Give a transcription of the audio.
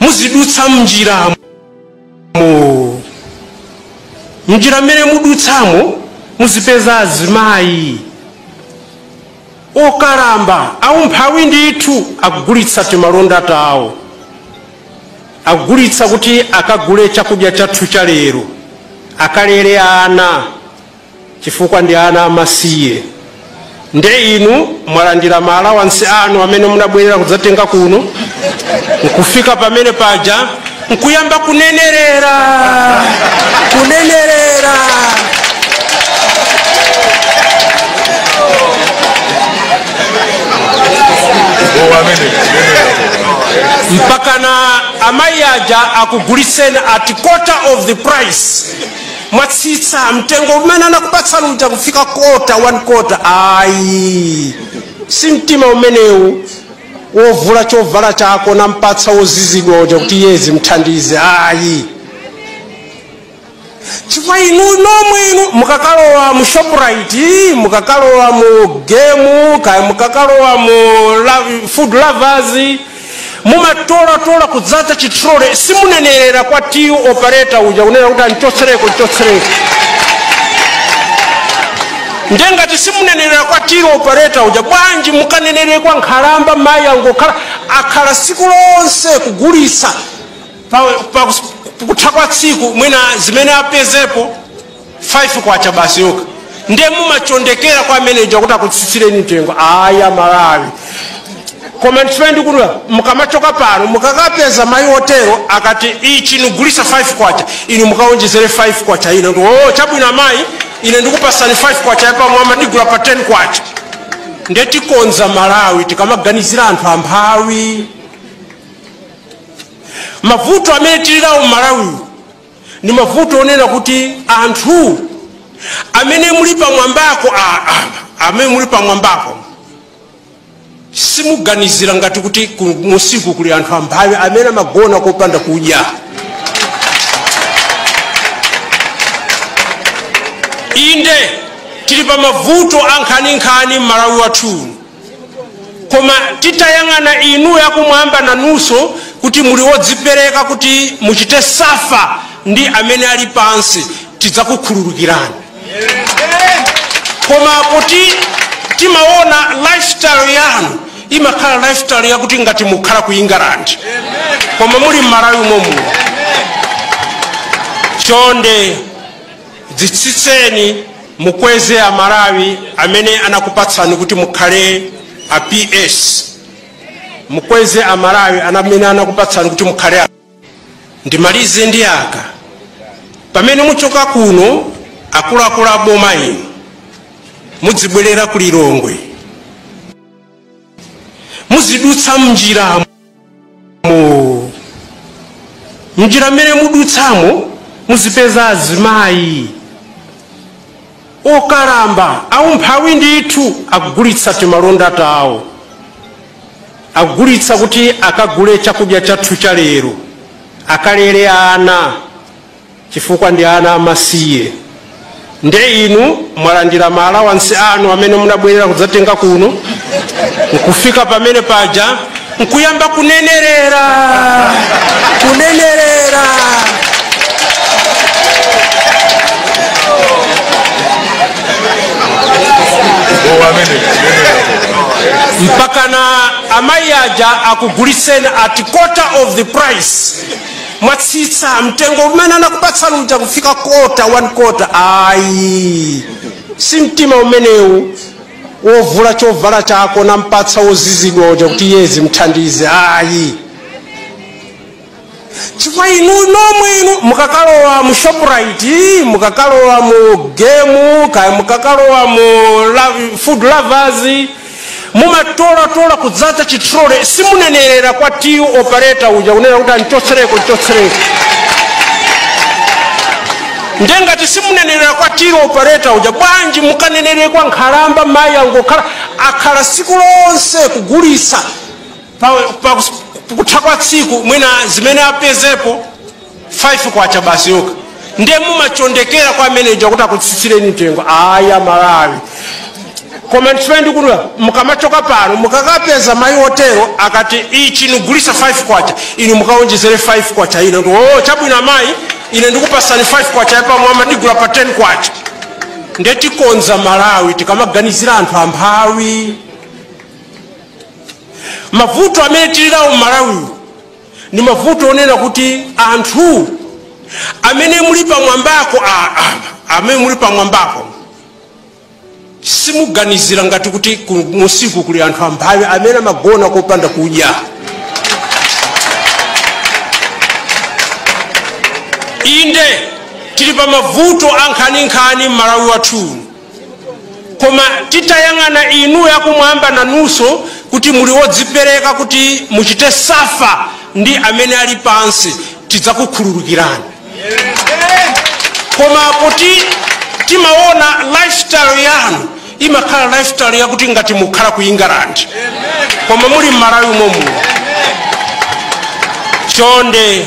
muzidutsa mnjiramo mnjira mmene mudutsamo muzipeza azimayi okalamba aumphawi ndithu akugulitsa timalonda tawo akugulitsa kuti akagule chakudya chathu cha lero akalere ana chifukwa ndi ana amasiye nde inu mwalandira maalawansi anu amene munabwerera kudzatenga kuno nkufika pamene paja nkuyamba kunenerera kunenerera mpakana amayi aja akugulitseni at quarter of the price mwatsitsa mtengo umene anakupatsani uja kufika kota one kota ayi si mtima umenewo wovula chovala chako nampatsa wozizidwa uja kuti iye zimthandize ayi chifukwa inu nomwe inu mukakalowa mu shoprite mukakalowa mu Game kaya mukakalowa mu la- food lovers mumatolatola kudzadza chitrole simunenerera kwa till operator uja kunena kuti anchotsereko mchotsereko nde ngati simunenerera kwa till operator uja bwanji mukanenere kwa nkhalamba mayi angokhala akhala tsiku lonse kugulitsa pa, pa, kutha kwa tsiku mwina zimene apezepo 5 kwacha basi yokha ndiye mumachondekera kwa manager kuti akutsitsireni mtengo ayi amalawi koma ine ndikuti mukamachoka pano mukakapeza mayi otero akati ichi ndigulitsa 5 kwacha inu mukaonjezere 5 kwacha ina nditi oo chabwino mayi ine ndikupatsani 5 kwacha yapamwamba ndigula pa 10 kwacha ndiye tikonza malawi tikamaganizira anthu aumphawi mavuto amene tili nawo mmalawiwo ndi mavuto onena kuti anthu amene muli pamwambako a- a- amene muli pamwambako simuganizira ngati kuti ku- munsiku kuli anthu aumphawi amene amagona kopanda kudya inde tili pa mavuto ankhaninkhani m'malawi wathu koma titayang'ana inu akumwamba nanunso kuti muli wodzipereka kuti muchite suffer ndi amene ali pansi tidzakukhululukirani koma poti timaona lifestyle yanu imakhala lifestyle yakuti ngati mukhala ku england koma muli mmalawi mommuno chonde Dzitsitseni mukweze a Malawi amene anakupatsani kuti mukhale a PS. Mukweze a Malawi amene anakupatsani kuti mukhale a. Ndimalize ndi aka pamene muchoka kuno akuluakulu a boma inu mudzibwerera ku Lilongwe muzidutsa mnjiramo mu mnjira mmene mudutsamo muzipeza azimayi okalamba aumphawi ndithu akugulitsa timalonda tawo akugulitsa kuti akagule chakudya chathu cha lero akalere ana chifukwa ndi ana amasiye nde inu mwalandira ma alawansi anu amene munabwerera kudzatenga kuno nkufika pamene paja nkuyamba kunenerera kunenerera mpakana amayi aja akugulitseni at quarter of the price mwatsitsa mtengo umene anakupatsani uja kufika kota one kota ayi si mtima umenewu wovula chovala chako nampatsa wozizidwa uja kuti Yesu mthandize ayi chifukwa inu nomwe inu mukakalowa mu Shoprite mukakalowa mu Game kaya mukakalowa mu la- Food Lovers mumatolatola kudzadza chitrole simunenerera kwa till operator uja kunena kuti anchotsereko nchotsereko nde ngati simunenerera kwa till operator uja bwanji mukanenere kwa nkhalamba mayi angokhala akhala siku lonse kugulitsa pa, pa, kutha kwa tsiku mwina zimene apezepo 5 kwacha basi yoka ndiye mumachondekera kwa manager kuti akutsitsireni mtengo ayi aMalawi koma ndichimene ndikunena mukamachoka pano mukakapeza mayi otero akati ichi nigulisa 5 kwacha inu mukaonjezere 5 kwacha ina ndi oo chabwino amayi ine ndikupasani 5 kwacha yapamwamba ndigula pa 10 kwacha ndiye tikonza Malawi tikamaganizira anthu amphawi mavuto amene tili nawo mMalawi ndi mavuto onena kuti anthu amene muli pamwambako a- a- amene muli pamwambako simuganizira ngati kuti ku- kunsiku kuli anthu amphawi amene amagona kopanda kudya inde tili pa mavuto ankhaninkhani m'Malawi wathu koma titayang'ana inu yakumwamba nanunso kuti muli wodzipereka kuti muchite suffer ndi amene ali pansi tidzakukhululukirani koma poti timaona lifestyle yanu imakhala lifestyle yakuti ngati mukhala ku england koma muli mmalawi mommuno chonde